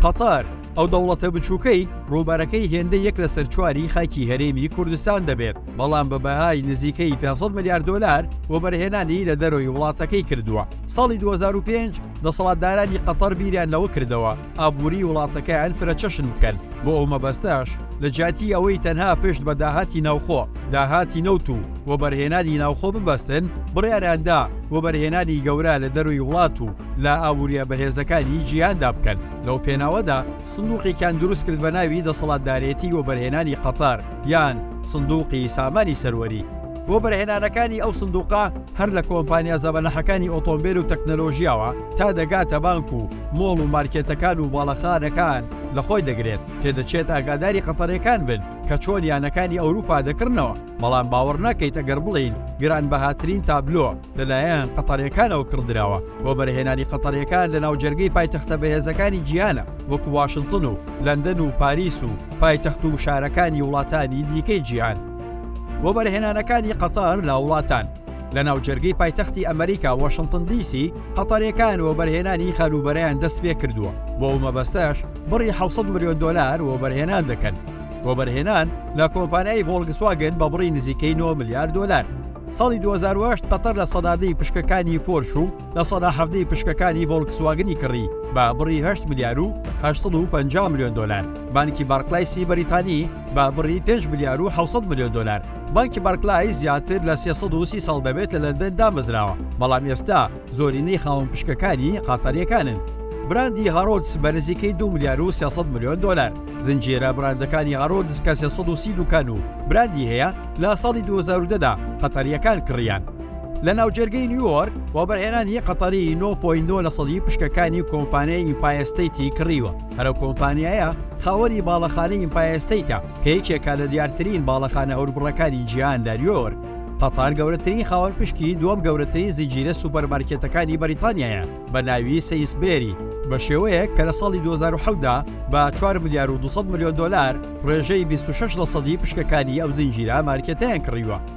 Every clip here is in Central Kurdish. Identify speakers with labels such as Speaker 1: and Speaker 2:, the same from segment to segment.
Speaker 1: قەتەر، ئەو دەوڵەتە بچووکەی ڕووبەرەکەی هێندە یەک لەسەر چواری خاکی هەرێمی کوردستان دەبێت، بەڵام بە بەهای نزیکەی 500 ملیار دۆلار وەبەرهێنانی لە دەرەوەی وڵاتەکەی کردووە. ساڵی 2005 دەسەڵاتدارانی قەتەر بیریان لەوە کردەوە، ئابووریی وڵاتەکەیان فرەچەشن بکەن، بۆ ئەو مەبەستەش لە جیاتی ئەوەی تەنها پشت بە داهاتی ناوخۆ، داهاتی نەوت و وەبەرهێنانی ناوخۆ ببەستن، بڕیاریان دا وەبەرهێنانی گەورە لە دەرووی وڵات و لە ئابوورییە بەهێزەکانی جیهاندا بکەن، لەو پێناوەدا سندووقێکیان دروست کرد بە ناوی دەسەڵاتدارێتی وەبەرهێنانی قەتەر یان سندووقی سامانی سەروەری. بۆ بەرهێنانەکانی ئەو سندوقە هەر لە کۆمپانیا زەبەلاحەکانی ئۆتۆمبێل و تەکنەلۆژیاوە تا دەگاتە بانک و مۆڵ و مارکێتەکان و باڵەخانەکان لە خۆی دەگرێت، پێدەچێت ئاگاداری قەتەرەکان بن کە چۆن یانەکانی ئەوروپا دەکڕنەوە، بەڵام باوەڕ ناکەیت ئەگەر بڵێین گرانبەهاترین تابلۆ لەلایەن قەتەرەکانەوە کڕدراوە بۆ بەرهێنانی قەتەرەکان لە ناوجەرگەی پایتەختە بەهێزەکانی جیهانە وەکو واشنتن و لەندەن و پاریس و پایتەخت و شارەکانی وڵاتانی دیکەی جیهان. وەبەرهێنانەکانی قەتەر لە وڵاتان لە ناوجەرگەی پایتەختی ئەمەریکا واشنتن دی سی، قەتەریەکان وەبەرهێنانی خانووبەرەیان دەستپێکردووە، بۆ ئەو مەبەستەش بڕی حەوت سەد ملیۆن دۆلار وەبەرهێنان دەکەن. وەبەرهێنان لە کۆمپانیای ڤۆڵگسواگن بە بڕی نزیکەی نۆ ملیار دۆلار. ساڵی دوو هەزار و هەشت قەتەر لە سەدادەی پشکەکانی پۆرش و لە سەدا حەڤدە ی پشکەکانی ڤۆڵکسواگنی کڕی بە بڕی هەشت ملیار و هەشت سەد و پەنجا ملیۆن دۆلار، بانکی بارکلایسی بەریتانی بە بڕی پێنج ملیار و حەوت سەد ملیۆن دۆلار. بانکی بارکلایس زیاتر لە سێ سەد و سی ساڵ دەبێت لە لەندەن دامەزراوە، بەڵام ئێستا زۆرینەی خاوەن پشکەکانی قەتەرییەکانن. براندی هارۆدس بە نزیکەی دوو ملیار و سێ سەد ملیۆن دۆلار. زنجیرە براندەکانی هارۆدس کە سێ سەد و سی دوکان و براندی هەیە، لە ساڵی دوو هەزار و دە دا قەتەرییەکان کڕییان. لە ناوجەرگەی نیویۆرک وەبەرهێنانی قەتەری 9.9 لە سەدی پشکەکانی کۆمپانیای ئیمپایستەیتی کڕیوە هەرە کۆمپانیایە خاوەری باڵەخانەی ئیمپایستەیتە کە یەکێکە لە دیارترین باڵەخانە هەوربڕەکانی جیهان لە نیویۆرک قەتار گەورەترین خاوەن پشکی دووەم گەورەترین زنجیرە سوپەرمارکێتەکانی بەریتانیایە بە ناوی سەیسبێری بە شێوەیەک کە لە ساڵی 2010دا بە 4 ملیار و 200 ملیۆن دلار ڕێژەی 26 لە سەدی پشکەکانی ئەو زنجیرە مارکێتیان کڕیوە.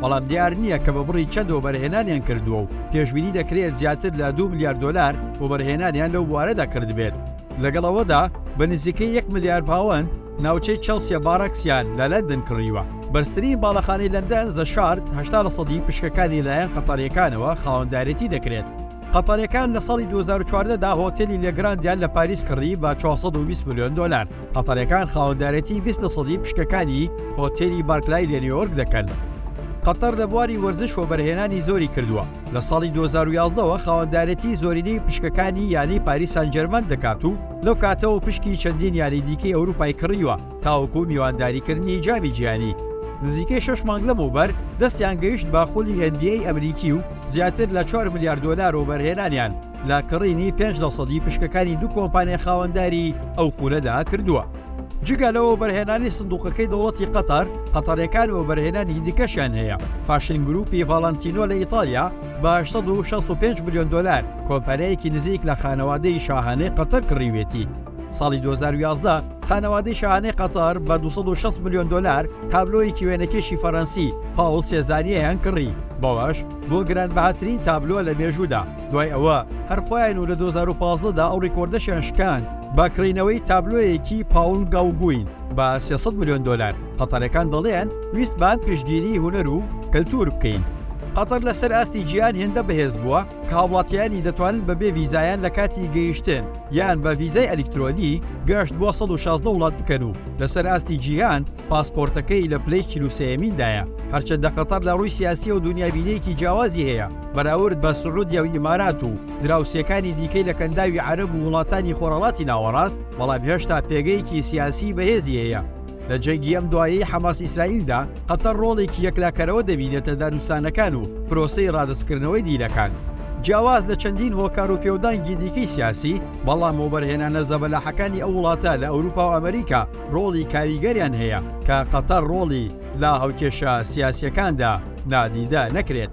Speaker 1: بەڵام دیار نییە کە بە بڕی چەند وەبەرهێنانیان کردووە و پێشبینی دەکرێت زیاتر لە دوو ملیار دۆلار وەبەرهێنانیان لەو بوارەدا کردبێت، لەگەڵ ئەوەدا بە نزیکەی یەک ملیار پاوەند ناوچەی چێڵسیە باراکسیان لە لەندەن کڕیوە. بەرزترین باڵەخانەی لەندەن، زە شارد، هەشتا لە سەدی پشکەکانی لەلایەن قەتەرییەکانەوە خاوەندارێتی دەکرێت. قەتەرییەکان لە ساڵی دوو هەزار و چواردە دا هۆتێلی لێ گراندیان لە پاریس کڕی بە چوار سەد و بیست ملیۆن دۆلار. قەتەریەکان خاوەندارێتی بیست لە سەدی پشکەکانی هۆتێلی بارکلای لە نیۆرک دەکەن. قەتەر لە بواری وەرزش وەبەرهێنانی زۆری کردووە، لە ساڵی دوو هەزار و یازدە وە خاوەندارێتی زۆرینەی پشکەکانی یانەی پاریس سانجێرمان دەکات و لەو کاتەوە پشکی چەندین یانەی دیکەی ئەوروپای کڕیوە تاوەکو میوانداریکردنی جامی جیهانی. نزیکەی شەش مانگ لەمەوبەر دەستیان گەیشت بە خولی ئێن بی ئەی ئەمریکی و زیاتر لە چوار ملیار دۆلار وەبەرهێنانیان. لە کڕینی پێنج لە سەدی پشکەکانی دوو کۆمپانیای خاوەنداری ئەو خولەدا کردووە. جگە لەوە وەبەرهێنانی سندوقەکەی دەوڵەتی قەتەر، قەتەرییەکان وەبەرهێنانی دیکەشیان هەیە، فاشن گرووپی ڤاڵانتینۆ لە ئیتاڵیا بە هەشت سەد و شەست و پێنج ملیۆن دۆلار کۆمپانیایەکی نزیک لە خانەوادەی شاهانەی قەتەر کڕیویەتی، ساڵی دوو هەزار و یازدە خانەوادەی شاهانەی قەتەر بە دوو سەد و شەست ملیۆن دۆلار تابلۆیەکی وێنەکێشی فەرەنسی پاوڵ سێزانییەیان کڕی، بەوەش بووە گرانبەهاترین تابلۆ لە مێژوودا. دوای ئەوە هەر خۆیان و لە دوو هەزار و پازدە دا ئەو ریکۆردەشیان شکاند بە کڕینەوەی تابلۆیەکی پاوڵ گاوگوین بە سێ سەد ملیۆن دۆلار. قەتەرەکان دەڵێن ویستمان پشتگیریی هونەر و کەلتوور بکەین. قەتەر لە سەر ئاستی جیهان هێندە بەهێز بووە کە هاوڵاتییانی دەتوانن بە بێ ڤیزایان لە کاتی گەیشتن یان بە ڤیزای ئەلیکترۆنی گەشت بۆ سەد و شازدە وڵات بکەن و لە سەر ئاستی جیهان پاسپۆرتەکەی لە پلەی چل و سێیەمیندایە، هەرچەندە قەتەر لە ڕووی سیاسییە و دونیابینییەکی جیاوازی هەیە بەراورد بە سعودیە و ئیمارات و دراوسێکانی دیکەی لە کەنداوی عەرەب و وڵاتانی خۆرهەڵاتی ناوەڕاست، بەڵام هێشتا پێگەیەکی سیاسیی بەهێزی هەیە. لە جەنگی ئەم دوایەی حەماس-ئیسرائیلدا، قەتەر ڕۆڵێکی یەکلاکەرەوە دەبینێتە دانوستانەکان و پرۆسەی ڕادەستکردنەوەی دیلەکان. جیاواز لە چەندین هۆکار و پێودانگی دیکەی سیاسی، بەڵام وەبەرهێنانە زەبەلاحەکانی ئەو وڵاتە لە ئەوروپا و ئەمریکا، ڕۆڵی کاریگەریان هەیە کە قەتەر ڕۆڵی لە هاوکێشە سیاسیەکاندا نادیدە نەکرێت.